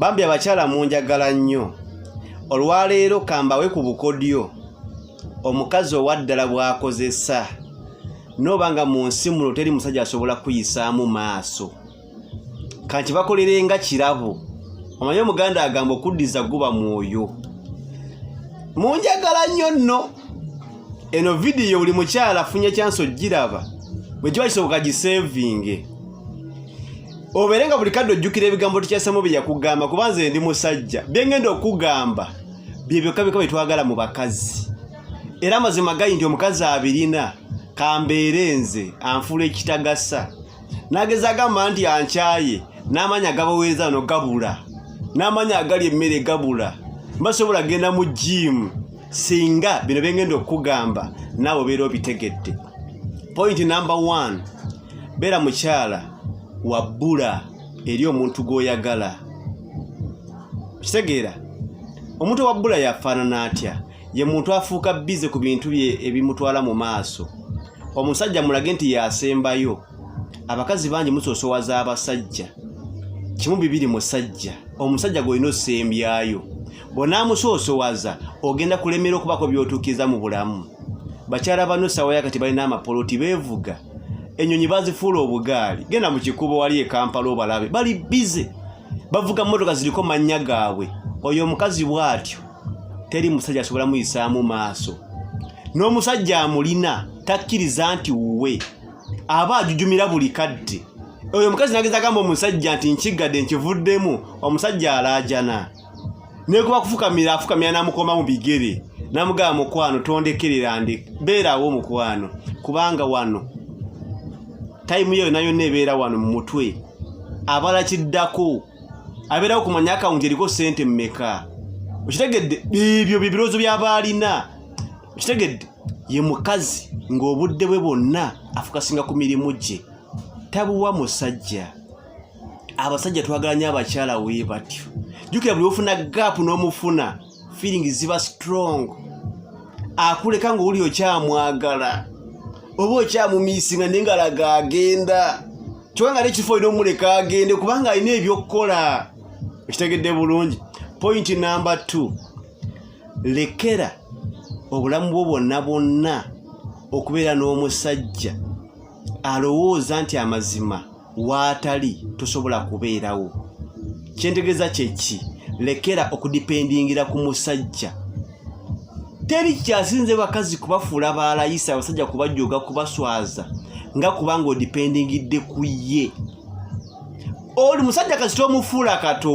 bambi abakyala munjagala nnyo olwaleero kambawe ku bukodyo omukazi owaddala bw'akozesa nooba nga mu nsi muno teri musajja asobola kuyisaamu maaso kanti bakolere nga kirabo omanyi omuganda agamba okuddiza guba mwoyo munjagala nnyo nno eno vidiyo buli mukyala afunye kyansi ogiraba bwe kiba kisoboka giseevinge obeere nga buli kadde ojjukira ebigambo tukyasamu bye yakugamba kuba nze ndi musajja bye ngenda okugamba bye byokka byokka bye twagala mu bakazi era amazima gali nti omukazi abirina kambeere nze anfuula ekitagasa nageza agamba nti ankyaye n'amaanyi agabaweereza ano gabula n'amaanyi agali emmere gabula mbasobola genda mu jiimu singa bino bengenda okukugamba naawe obeera obitegedde point number one beera mukyala wabbula eri omuntu gw'oyagala kitegeera omuntu owabbula yafaanana atya ye muntu afuuka bize ku bintu bye ebimutwala mu maaso omusajja mulage nti yasembayo abakazi bangi musosowaza abasajja kimu bibiri musajja omusajja gwolina osembyayo bw'onaamusoosowaza ogenda kulemera okubaako by'otuukiriza mu bulamu bakyala bano essaawa yakati balina amapoloti beevuga ennyonyi bazifuula obugaali genda mu kikubo wali e kampala obalabe bali bize bavuga mmotoka ziriko mannya gaabwe oyo omukazi bw'atyo teri musajja asobola muyisaamu maaso n'omusajja amulina takkiriza nti wuwe aba ajujumira buli kadde oyo omukazi nageza gamba omusajja nti nkigadde nkivuddemu omusajja alaajana naye kuba kufukamira afukamira namukoma mu bigere namugaba mukwano tondekerera ndi beerawo mukwano kubanga wano tayimu yeyo nayo nebeera wano mu mutwe abala kiddako abeerawo kumanya akawunti eriko sente mumeka okitegedde ebyo bebirowoozo byaba alina okitegedde ye mukazi ng'obudde bwe bwonna afukasinga ku mirimu gye tabuwa musajja abasajja twagala nyo abakyala wee batyo jukira buli ofuna gap n'omufuna feeling ziba strong akuleka nga oli okyamwagala oba okyamumisinga naye nga laga agenda kyoka nga nekifo olina omuleka agende kubanga alina ebyokukola ekitegedde bulungi point number t lekera obulamu bwo bwonna bwonna okubeera n'omusajja alowooza nti amazima waatali tosobola kubeerawo kyentegeeza kyeki lekera okudipendingira ku musajja teri kyasinze bakazi kubafuula baalayisa abasajja kubajooga kubaswaza nga kubanga odipendingidde ku ye oli musajja kasita omufuula kato